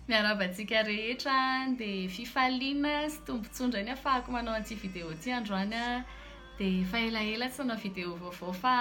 Miarahaba antsika rehetra dia fifaliana sy tombontsoa indray ny afahako manao an'ity video ity androany an! dia efa elaela tsy nanao video vaovao fa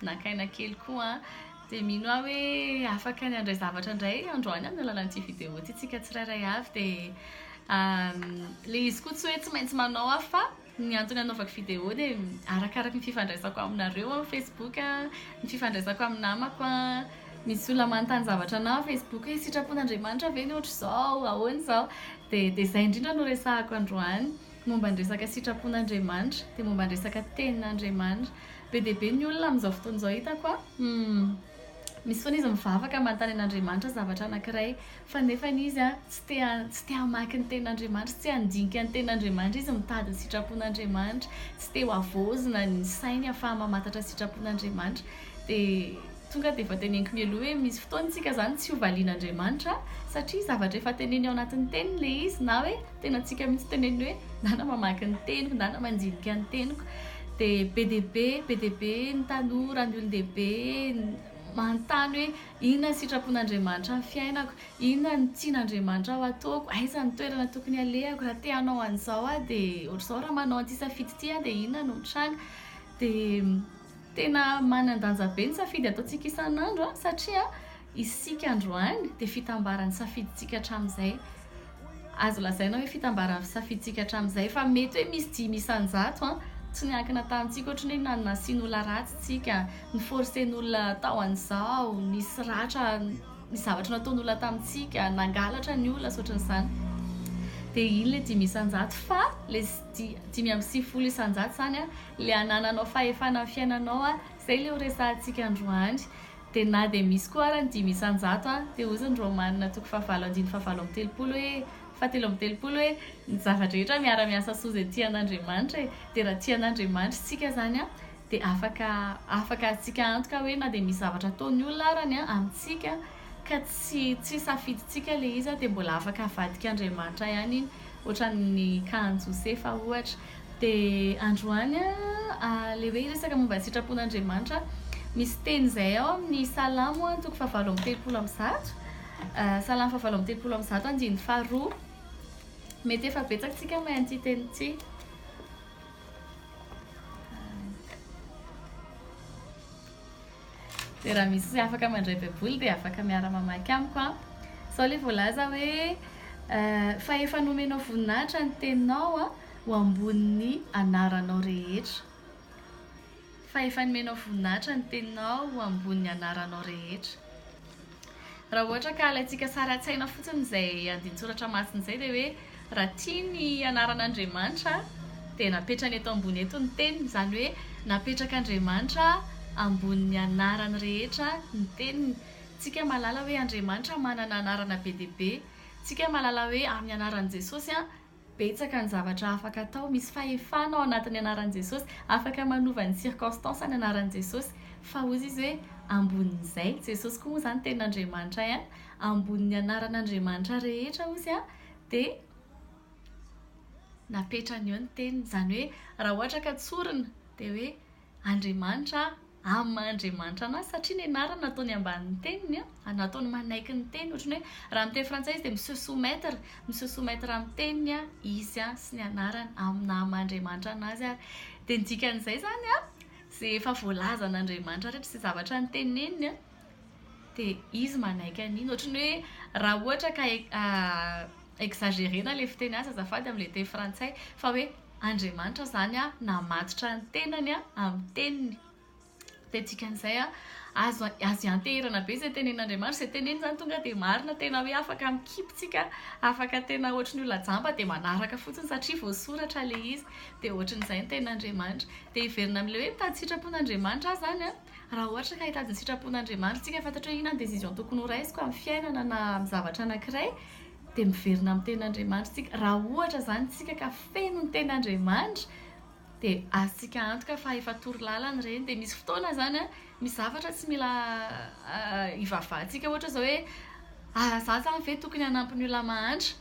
naka aina kely koa an! dia mino aho hoe afaka ny handray zavatra indray androany amin'ny alalan'ity video ity isika tsirairay avy dia ilay izy koa tsy hoe tsy maintsy manao aho fa Ny antony anaovako vidéo dia arakaraky ny fifandraisako aminareo amin'ny facebook, ny fifandraisako amin'ny namako, misy olona manontany zavatra anah facebook hoe sitrapon'Andriamanitra ve ny ohatr'izao, ahoana izao, dia dia izay indrindra no resahako androany, momba ny resaka sitrapon'Andriamanitra, dia momba ny resaka tenin'Andriamanitra. Be dia be ny olona amin'izao fotoana izao hitako an, misy foana izy mivavaka manontany an'Andriamanitra zavatra anankiray, Fa nefa izy tsy te tsy te hamaky ny tenin'Andriamanitra, tsy handinika ny tenin'Andriamanitra, izy mitady ny sitrapon'Andriamanitra, tsy te ho havaozina ny sainy ahafaha mamantatra ny sitrapon'Andriamanitra. Dia tonga dia efa teneniko mialoha hoe misy fotoana isika izany tsy ho valian'Andriamanitra satria zavatra efa teneny ao anatin'ny teniny ilay izy na hoe tenantsika mihitsy teneniny hoe na na mamaky ny teniko na na mandinika ny teniko. Dia be dia be be dia be ny tanora, ny olon-dehibe manontany hoe. Inona ny sitrapon'Andriamanitra amin'ny fiainako? Inona ny tian'Andriamanitra ho ataoko? Aiza ny toerana tokony halehako? Raha te hanao an'izao aho dia ohatr'izao, raha manao an'ity safidy ity aho dia inona no mitranga? Dia tena manan-danja be ny safidy ataontsika isan'andro satria isika androany dia fitambaran'ny safidintsika hatramin'izay. Azo lazaina hoe fitambaran'ny fisafidintsika hatramin'izay fa mety hoe misy dimy isan-jato tsy niankina tamintsika ohatran'ny hoe nasian'olona ratsy tsika, ni-forcer-n'olona hatao an'izao, nisy ratra, nisy zavatra nataon'olona tamintsika, nangalatra ny olona sy ohatran'izany. Dia iny ilay dimy isan-jato fa ilay dimy amby sivifolo isan-jato izany ilay hanananao fahefana amin'ny fiainanao, izay ilay ho resahantsika androany. Dia na dia misy koa ara ny dimy isan-jato an, dia hozy ny Romanina toko fahavalo andiny fahavalo amby telopolo hoe, fahatelo amby telopolo hoe, ny zava-drehetra miara-miasa soa izay tian'Andriamanitra e, dia raha tian'Andriamanitra isika izany an, dia afaka, afaka azontsika antoka hoe na dia misy zavatra ataon'ny olona arany an, amintsika ka tsy, tsy safidintsika ilay izy an, dia mbola afaka avadik'Andriamanitra ihany iny, ohatran'ny Kahan-Josefa ohatra. Dia androany ilay hoe hiresaka momba ny sitrapon'Andriamanitra, misy teny izay ao amin'ny Salamo toko fahavalo amby telopolo amby zato, Salamo fahavalo amby telopolo amby zato andininy faharoa. Mety efa betsaka antsika mahay an'ity teny ity. Dia raha misy afaka mandray baiboly dia afaka miara mamaky amiko an! Zao le voalaza hoe fa efa nomenao voninahitra ny teninao an! ho ambonin'ny anaranao rehetra. Fa efa nomenao voninahitra ny teninao ho ambonin'ny anaranao rehetra. Raha ohatra ka alaintsika sary an-tsaina fotsiny izay andinin-tsoratra masina izay dia hoe raha tia ny anaran'Andriamanitra dia napetrany eto ambony eto ny teniny, izany hoe napetrak'Andriamanitra ambonin'ny anarany rehetra ny teniny. Tsika mahalala hoe Andriamanitra manana anarana be dia be, tsika mahalala hoe amin'ny anaran'i Jesosy an, Betsaka ny zavatra afaka atao, misy fahefana ao anatin'ny anaran'i Jesosy, afaka manova ny circonstance ny anaran'i Jesosy, fa hozy izy hoe ambonin'izay, Jesosy koa moa izany tenin'Andriamanitra ihany, ambonin'ny anaran'Andriamanitra rehetra hozy an, dia napetrany eo ny teniny, izany hoe raha ohatra ka tsorina dia hoe Andriamanitra amin'ny maha Andriamanitra anazy satria ny anarany nataony ambanin'ny teniny a, nataony manaiky ny teniny, ohatran'ny hoe raha amin'ny teny frantsay izy dia mi se soumettre, mi se soumettre amin'ny teniny izy a sy ny anarany amin'ny naha maha Andriamanitra anazy ary dia ny dikan'izay izany a izay efa voalazan'Andriamanitra rehetra izay zavatra noteneniny a dia izy manaiky an'iny, ohatran'ny hoe raha ohatra ka Exagerena le fiteny azy azafady amle teny frantsay fa hoe Andriamanitra zany a namatotra ny tenany a amin'ny teniny de dikan'izay a azo azo ianteherana be zay tenen'Andriamanitra zay teneniny zany tonga de marina tena hoe afaka mikipy tsika afaka tena ohatran'ny olona jamba de manaraka fotsiny satria voasoratra le izy de ohatran'izay ny tenin'Andriamanitra de hiverina amle hoe mitady sitrapon'Andriamanitra aho zany a Raha ohatra ka hitady ny sitrapon'Andriamanitra isika, fantatro hoe inona ny décision tokony ho raisiko amin'ny fiainana na amin'ny zavatra anankiray, dia miverina amin'ny Tenin'Andriamanitra isika. Raha ohatra izany isika ka feno ny Tenin'Andriamanitra, dia azontsika antoka fa efa toro lalana ireny. Dia misy fotoana izany an, misy zavatra tsy mila ivavahantsika, ohatra izao hoe, ah, izaho izany ve tokony hanampy ny olona mahantra?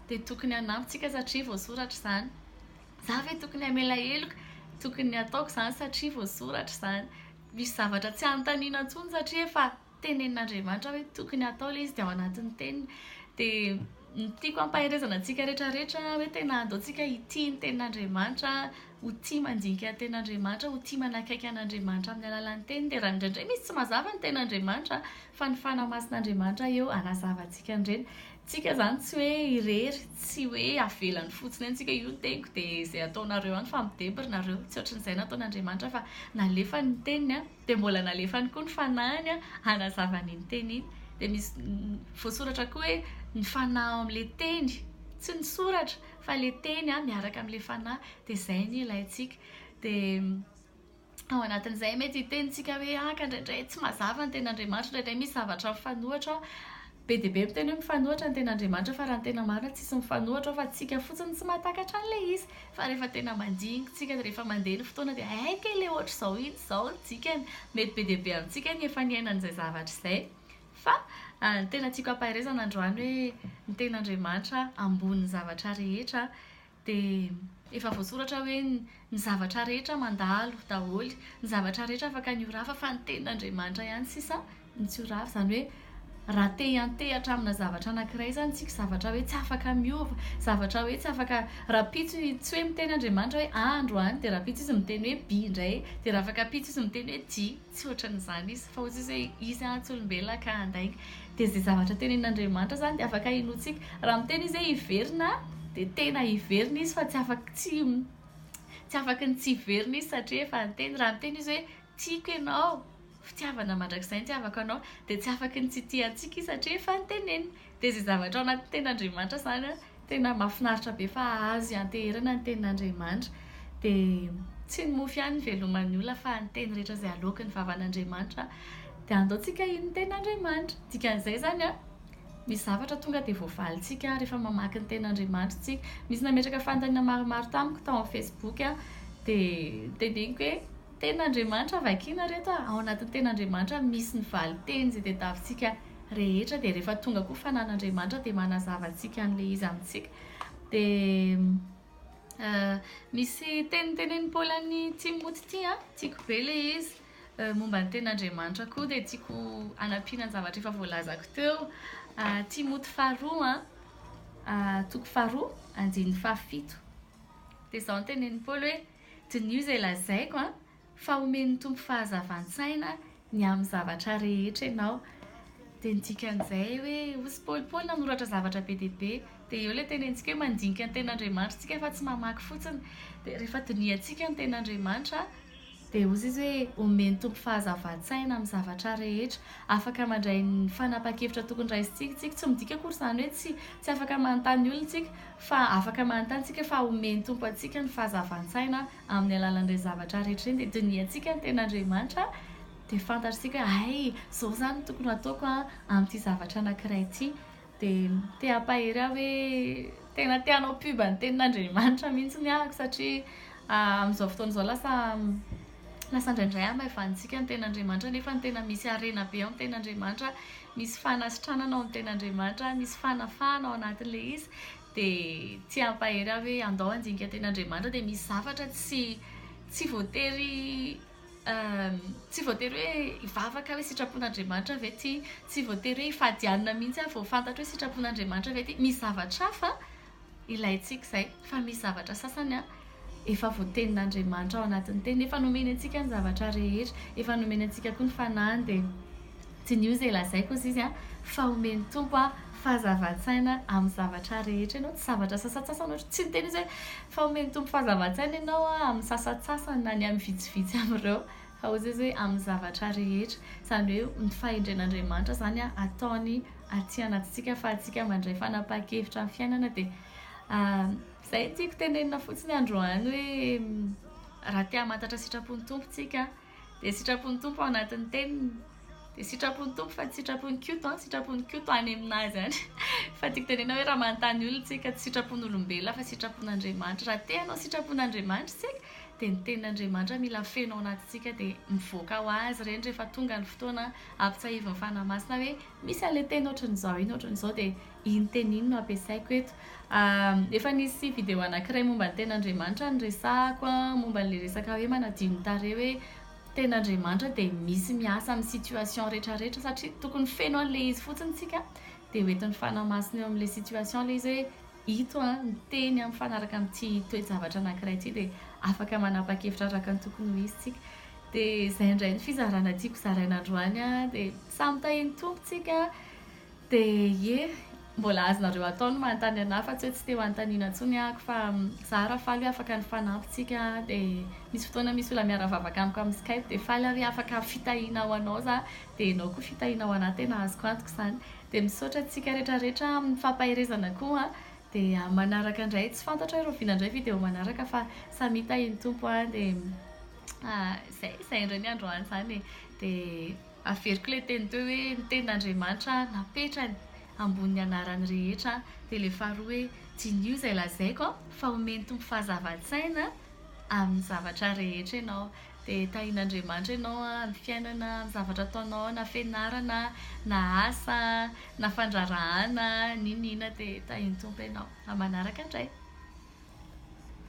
Dia tokony hanampy isika satria voasoratra izany. Za ve tokony hamela heloka? Tokony hataoko izany satria voasoratra izany. Misy zavatra tsy anontaniana intsony satria efa tenenin'Andriamanitra hoe tokony hatao ilay izy dia ao anatin'ny teniny. Dia ny tiako hampaherezana antsika rehetrarehetra hoe tena aleontsika hitia ny tenin'Andriamanitra, ho tia mandinika ny tenin'Andriamanitra, ho tia manakaiky an'Andriamanitra amin'ny alalan'ny teniny. Dia raha indraindray misy tsy mazava ny tenin'Andriamanitra fa ny fanahy masin'Andriamanitra eo hanazava antsika an'ireny. Tsika zany tsy hoe irery, tsy hoe avelany fotsiny eo tsika, io ny teniko de zay ataonareo any fa midebry nareo, tsy ohatrin'izay nataon'Andriamanitra fa nalefany ny teniny an, de mbola nalefany koa ny fanahiny an hanazava an'iny teny iny, de misy voasoratra koa hoe ny fanahy ao amin'ilay teny, tsy ny soratra fa le teny miaraka amin'ilay fanahy, de zay ny ilaintsika, de ao anatin'izay mety hitenintsika hoe ah ka indraindray tsy mazava ny ten'Andriamanitra, indraindray misy zavatra mifanohitra ao. Be dia be miteny hoe mifanohitra ny ten'Andriamanitra fa raha ny tena marina tsisy mifanohitra ao fa tsika fotsiny tsy mahatakatra an'ilay izy. Fa rehefa tena mandinikintsika, rehefa mandeha ny fotoana dia hay kay ilay ohatr'izao iny izao ny dikany. Mety be dia be amintsika ny efa niaina an'izay zavatra izay. Fa ny tena tiako hampaherezana androany hoe ny ten'Andriamanitra ambony zavatra rehetra. Dia efa voasoratra hoe ny zavatra rehetra mandalo daholo, ny zavatra rehetra afaka ny ho rafa fa ny tenin'Andriamanitra ihany sisa no tsy ho rafa. Izany hoe raha te hiantehatra amina zavatra anankiray izany isika, zavatra hoe tsy afaka miova, zavatra hoe tsy afaka rahampitso tsy hoe miteny Andriamanitra hoe A androany dia rahampitso izy miteny hoe B indray dia raha afaka ampitso izy miteny hoe J. Tsy ohatran'izany izy, fa hoy Jesosy hoe, Izy atsy olombelona ka handainga. Dia izay zavatra tenenin'Andriamanitra izany dia afaka hinoantsika. Raha miteny Izy hoe hiverina, dia tena hiverina Izy fa tsy afaka tsy tsy afaka ny tsy hiverina Izy satria efa niteny. Raha miteny Izy hoe tiako ianao, fitiavana mandrakizay ny hitiavako anao, dia tsy afaka ny tsy hitia antsika Izy satria efa noteneniny. Dia izay zavatra ao anatin'ny tenin'Andriamanitra izany an, tena mahafinaritra be fa azo ianteherana ny tenin'Andriamanitra. Dia tsy ny mofo ihany no iveloman'ny olona fa ny teny rehetra izay aloakin'ny vavan'Andriamanitra. Dia andaontsika hino ny tenin'Andriamanitra. Dikan'izay izany an, misy zavatra tonga dia voavalintsika rehefa mamaky ny tenin'Andriamanitra isika. Misy nametraka fanontaniana maromaro tamiko tao amin'ny Facebook an, dia teneniko hoe, Tenin'Andriamanitra vakiana ireto an, ao anatin'ny tenin'Andriamanitra misy ny valinteny izay tadiavintsika. rehetra dia rehefa tonga koa fanan'Andriamanitra dia manazava antsika an'ilay izy amintsika dia misy teny tenenin'i Paoly an'i Timoty ity a tiako be ilay izy momba ny tenin'Andriamanitra koa dia tiako hanampiana ny zavatra efa voalazako teo Timoty faharoa a toko faharoa andininy fahafito dia izao ny tenenin'i Paoly hoe dinio izay lazaiko a fa omen'ny Tompo fahazavan-tsaina ny amin'ny zavatra rehetra ianao. Dia ny dikan'izay hoe osy polipoly nanoratra zavatra be dia be. Dia eo ilay tenentsika hoe mandinika ny ten'Andriamanitra isika fa tsy mamaky fotsiny. Dia rehefa dinihantsika ny ten'Andriamanitra dia hozy izy hoe omen'ny Tompo fahazavan-tsaina amin'ny zavatra rehetra. Afaka mandray ny fanapahan-kevitra tokony raisintsika isika. Tsy midika akory izany hoe tsy tsy afaka manontany olona isika fa afaka manontany isika fa omen'ny Tompo antsika ny fahazavan-tsaina. Amin'ny alalan'ireny zavatra rehetra ireny dia dinihantsika ny tenin'Andriamanitra dia fantatr'isika hoe hay izao izany no tokony hataoko amin'ity zavatra anankiray ity. Dia te hampahery ahy hoe tena te hanao pub ny tenin'Andriamanitra mihitsy ny ahako satria amin'izao fotoana izao lasa lasa indraindray hamaivanintsika ny tenin'Andriamanitra nefa ny tena misy harena be ao amin'ny tenin'Andriamanitra, misy fanasitranana ao amin'ny tenin'Andriamanitra, misy fanafahana ao anatin'ilay izy. Dia tsy hampahery ahy hoe andao handinika teny Andriamanitra dia misy zavatra tsy tsy voatery tsy voatery hoe hivavaka aho hoe sitrapon'Andriamanitra ve ity, tsy voatery hoe hifadianina mihitsy aho vao fantatro hoe sitrapon'Andriamanitra ve ity, misy zavatra hafa ilaintsika izay fa misy zavatra sasany an. Efa voatenin'Andriamanitra ao anatin'ny teniny. Efa nomeny antsika ny zavatra rehetra. Efa nomeny antsika koa ny fanahiny dia diniho izay lazaiko hozy izy an, fa omen'ny Tompo aho fahazavan-tsaina amin'ny zavatra rehetra ianao. Tsy zavatra sasantsasany ohatra. Tsy niteny izy hoe fa omen'ny Tompo fahazavan-tsaina ianao an, amin'ny sasantsasany na ny amin'ny vitsivitsy amin'ireo. Fa hozy izy hoe amin'ny zavatra rehetra. Izany hoe ny fahendren'Andriamanitra izany ataony aty anatintsika ahafahantsika mandray fanapahan-kevitra amin'ny fiainana dia Izay no tiako tenenina fotsiny androany hoe raha te hamantatra sitrapon'ny Tompo tsika dia sitrapon'ny Tompo ao anatin'ny teniny dia sitrapon'ny Tompo fa tsy sitrapon'ny koto an, sitrapon'ny koto any aminazy any fa tiako tenenina hoe raha manontany olona tsika tsy sitrapon'olombelona fa sitrapon'Andriamanitra raha te hanao sitrapon'Andriamanitra tsika dia ny tenin'Andriamanitra mila feno ao anatintsika dia mivoaka ho azy ireny rehefa tonga ny fotoana ampitsahivin'ny Fanahy Masina hoe misy an'ilay teny ohatran'izao iny ohatran'izao dia Iny teny iny no ampiasaiko eto. Efa nisy video anankiray momba ny ten'Andriamanitra niresahako momba an'ilay resaka hoe manadio ny tarehy hoe ten'Andriamanitra dia misy miasa amin'ny situation rehetra rehetra satria tokony feno an'ilay izy fotsiny isika dia ho entin'ny fanahy masina eo amin'ilay situation ilay izy hoe ito an ny teny mifanaraka amin'ity toe-javatra anankiray ity dia afaka manapa-kevitra araka ny tokony ho izy isika dia izay indray ny fizarana tiako zaraina androany an dia samy tahian'ny Tompo isika Dia ie, mbola azonareo atao ny manontany anah fa tsy hoe tsy te ho anontaniana intsony ahako fa za raha faly hoe afaka nifanampy tsika dia misy fotoana misy olona miara-vavaka amiko amin'ny skype dia faly aho hoe afaka fitahiana ho anao za dia ianao koa fitahiana ho anah tena azoko antoka izany dia misaotra antsika retraretra amin'ny fampaherezana koa an dia manaraka indray tsy fantatro hoe rahoviana indray video manaraka fa samia tahian'ny Tompo an dia izay izay indray ny androany izany e dia Averiko ilay teny teo hoe ny tenin'Andriamanitra napetrany ambonin'ny anarany rehetra, dia ilay faharoa hoe diniho izay lazaiko fa homen'ny Tompo fahazavan-tsaina amin'ny zavatra rehetra ianao, dia tahin'Andriamanitra ianao amin'ny fiainana, amin'ny zavatra ataonao na fianarana na asa na fandraharahana n'inona n'inona dia tahin'ny Tompo ianao. Amin'ny manaraka indray.